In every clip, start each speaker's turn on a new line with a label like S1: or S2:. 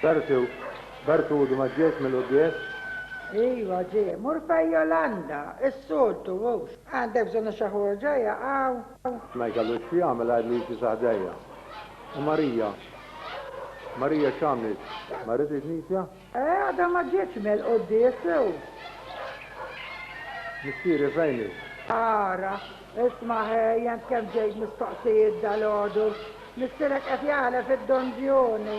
S1: Bertu, Bertu għodu ma ġiex mill-quddies? Iva ġie, mur fej Jolanda, is-soltu hux. Għandek bżonn għax xi ħorġa hija hawn. Ma jkellux x'jagħmel għajr li jimxi sa ħdejja. U Marija? Marija x'għamlet? Marret il-knisja? Eh, għadha ma ġietx mill-quddies, u. Missieri fejn hi? Ara, isma' ħejjent kemm ġejt mistoqsijiet dalgħodu. Missierek qed jaħlef id-donġjuni.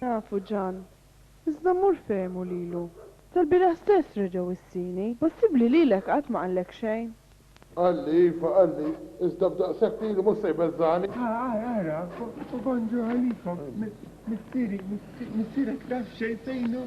S1: Nafu Ġan. Iżda mmur fejn hu lilu. Tal-bieraħ stess reġa' wissini. Possibbli lilek qatt ma qallek xejn? Qalli, iva, qalli. Iżda b'daqshekk ilu mhux se jbeżżagħni. Ara, ara, Obanjo Ħalifa, missieri, missierek taf xejn fejn hu?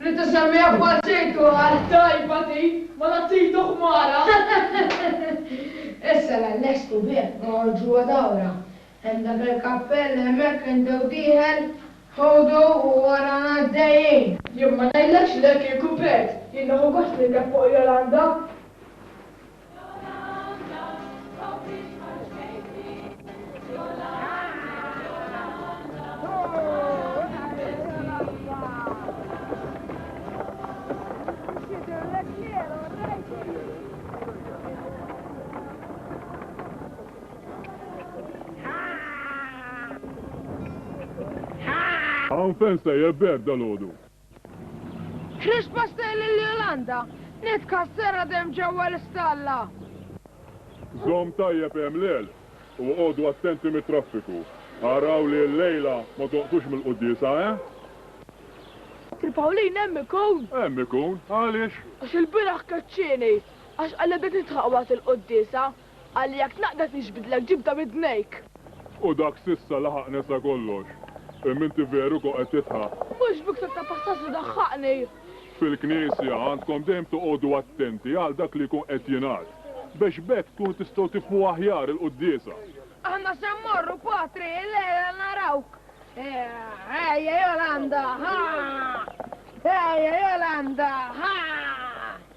S1: Li tisemmiha b'Bacetto għal tajba din, mela Tito Ħmara! Issa l-Allext u bih noħorġuha dawra. Hemm dak il-kappell hemmhekk indew dieħel, ħudu u warana għaddejjin. Jien ma ngħidlekx le kieku bert, jien nieħu gost nirkeb fuq Jolanda. Hawn fejn sejjer b'hekk dalgħodu? Chris Pastelli lil Jolanda, Nitkassera demm ġewwa l-istalla! Żomm tajjeb hemm l-għelq u għodu attenti mit-traffiku. Araw li llejla ma tonqsux mill-quddiesa, eh? Sir Pawlin hemm ikun? Hemm ikun, għaliex? Għax ilbieraħ keċċieni, għax qalli bdejt nidħaq waqt il-quddiesa, Qal li jekk tnaqqdet niġbidlek ġibda b'idnejk. U dak s'issa laħaq nesa kollox. Imma inti veru kont qed tidħaq. Mhux b'iktar ta' passat li daħħaqni. Fil-Knisja għandkom dejjem toqogħdu attenti għal dak li jkun qed jingħad, biex b'hekk tkunu tistgħu tifhmu aħjar il-quddiesa. Aħna se mmorru, Patri, illejla narawk. Ejja, Jolanda, ħa! Ejja, Jolanda, ħa!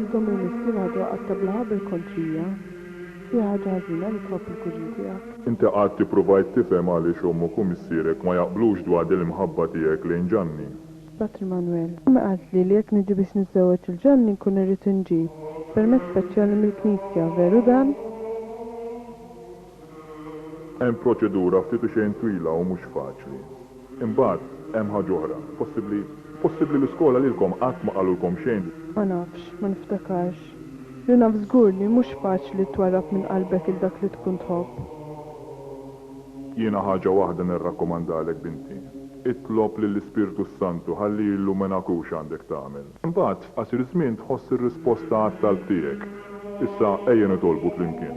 S1: Intom il-missier għadu qagħad teblaha bil-kontrija. Fiha ħaġa ħażina li tħobb il-kuġin tiegħek. Inti qatt ippruvajt tifhem għaliex ommok u missierek ma jaqblux dwar din l-imħabba tiegħek lejn Ġanni? Sbat Immanwel. Ommi qaltli li jekk niġi biex niżżewweġ lil Ġanni nkun irrid inġib permess speċjali mill-Knisja, veru dan? Hemm proċedura ftit u xejn twila u mhux faċli. Imbagħad, hemm ħaġa oħra. Possibbli, possibbli l-iskola lilkom qatt ma qalulkom xejn. Ma nafx, ma niftakarx. Li naf żgur li mhux faċli twarrab minn qalbek 'il dak li tkun tħobb. Jiena ħaġa waħda nirrakkomandalek binti. Itlob lill-Ispirtu s-Santu ħalli jilluminakux għandek tagħmel. Imbagħad, f'qasir żmien tħoss ir-risposta għat-talb tiegħek. Issa ejja nitolbu flimkien.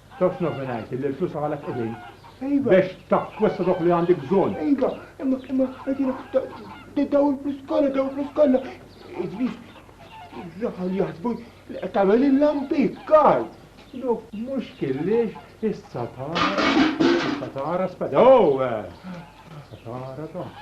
S1: Taf x'naf ngħid, illi l-flus għalek qegħdin. Iva. Biex takkwista dawk li għandek bżonn. Iva, imma imma għedina daw il-flus kollha, daw il-flus kollha. Idris, raħal jaħsbu li qed tagħmel il-lampi, kar. Dok mhux killiex issa tara, issa tara speda. Oh! Issa tara dok.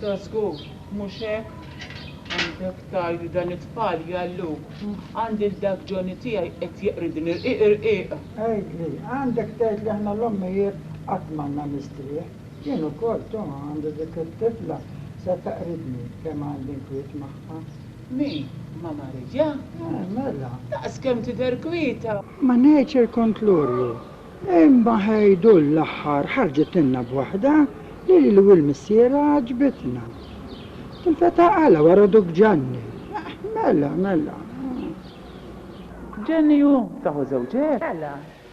S1: Da żgur mhux hekk. Għandek tgħid li dan it-tfal jgħalluk. Għandi l-dak Johnny tiegħi qed jeqridni rqiq irqiq. Għidli, għandek tgħid li aħna l-ommijiet qatt m'għandna nistrieħ. Jien ukoll, tu, għandi dik it-tifla se teqridni kemm għandi nkwiet magħha. Mi, ma' Marija? Eh, mela. Daqskemm tidher kwieta! Ma' Nature kont Lurju. Imma Ħejdu l-aħħar ħarġitilna b'waħda li lili u l-missierha għaġbitna. Tilfet għaqalha wara Dukk Ġanni. Eh, mela, mela. Ġenju, saħu żewġek? Mela,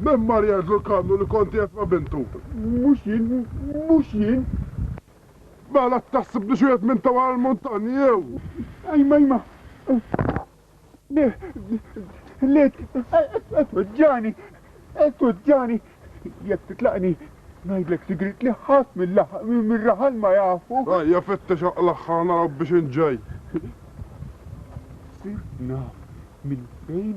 S1: Mem Maria Zurkanu li konti qed ma' bintu. Mhux jien, mhux jien. Mela t-taħseb li xi wieħed minn ta' wara l-muntanji jew? Ajma, ajma. Le, le, qed tweġġagħni, qed tweġġagħni. Jekk titlaqni, ngħidlek sigriet li ħadd mir-raħal ma jafu. Ejja fittex aqlaħ ħa naraw biex inġej. Sirt naf minn fejn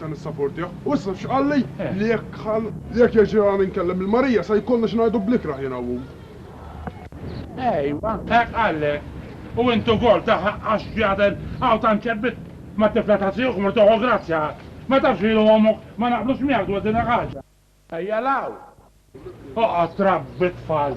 S1: Ta' nissaportjah. U issa taf x'qalli? Li jekk ħa. Li jekk jirġielha nkellem lil Marija sa jkollna xi ngħidu bl-ikrah jiena u hu. Ejwa. Hekk qallek. U int ukoll taf għax ġie għadel hawn tant ċebbit mat-tifla ta' tijok mort toħu grazzja. Ma tafx li jien u ommok ma naqblux miegħek dwar din il-ħaġa. Ejja 'l hawn. Oqgħod trabbi t-tfal.